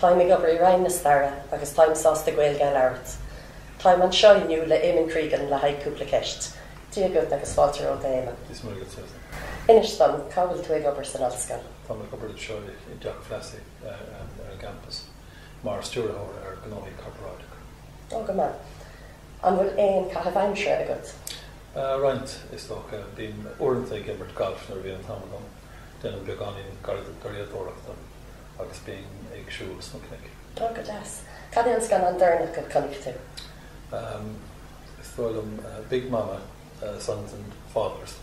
Táim ag obair i Roinn na Staire agus táim sásta Gaeilge a labhairt. Táim anseo inniu le Eamonn Cregan le haghaidh cúpla ceist. Dia dhuit agus fáilte romhat a Eamonn. Dia is Muire dhuit Susan. Inis dom, cá bhfuil tú ag obair san Ollscoil? Táim ag obair anseo i dTeach Plassey ar an gcampas mar Stiúrthóir ar Ghnóthaí Corparáideacha. Oh, go maith. An bhfuil aon caitheamh aimsire agat? Roinnt, is dócha. Bím uaireanta ag imirt gailf nuair a bhíonn an t-am agam. Déanaim beagáinín garraíodóireachta agus bím ag siúl sna cnoic. Ó go deas. Cad é an scannán deireanach a chonaic tú? Is dóigh liom Big Mama, Sons and Fathers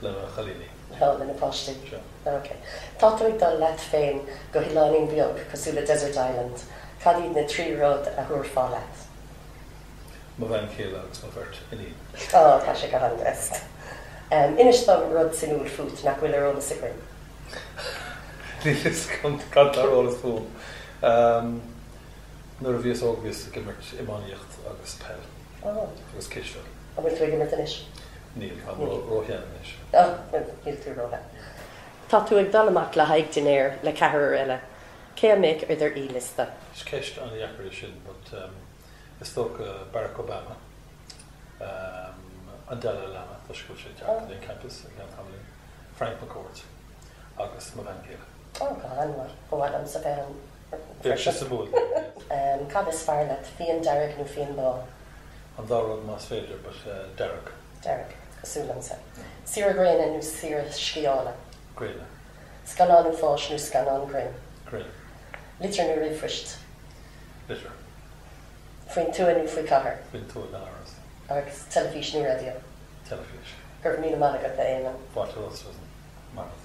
le na chailíní. Ó, le na páistí. Sure. Ok. Tá tú ag dul leat féin go hoileáinín beag cosúil le Desert Island. Cad iad na trí rud a thabharfá leat? mo bhean chéile agus mo bheirt iníon. Ó, tá sé go han-deas. Inis dom rud suimiúil fút nach bhfuil ar eolas againn. Níl fhios agam cad tá ar eolas fúm. Nuair a bhíos óg bhíos ag imirt iománaíocht agus peil. Ó. Agus cispheil. An bhfuil tú ag imirt anois? Níl, tá mé róshean anois. Ó, níl tú róshean. Tá tú ag dul amach le haghaidh dinnéir le ceathrar eile. Cé a mbeidh ar do aoiliosta? Is ceist an-dheacair í sin but. is dócha Barack Obama, an Dalai Lama, toisc go bhfuil sé ag teacht ar an campus i gceann tamaillín, Frank McCourt agus mo bhean chéile. Ó, go han-mhaith. Ba mhaith liomsa bheith ann freisin. Bheadh sé suimiúil. Cad is fearr leat, fíon dearg nó fíon bán? An dá rud más féidir, but dearg. Dearg. Cosúil liomsa. Saoire ghréine nó saoire sciála? Gréine. Scannán uafáis nó scannán grinn? Grinn. Litir nó ríomhphoist? litir. faoin tuath nó faoi cathair. faoin tuath gan amhras. agus teilifís nó raidió. teilifís. Go raibh míle maith agat, a Éamonn. B'ait liom sin mar rud.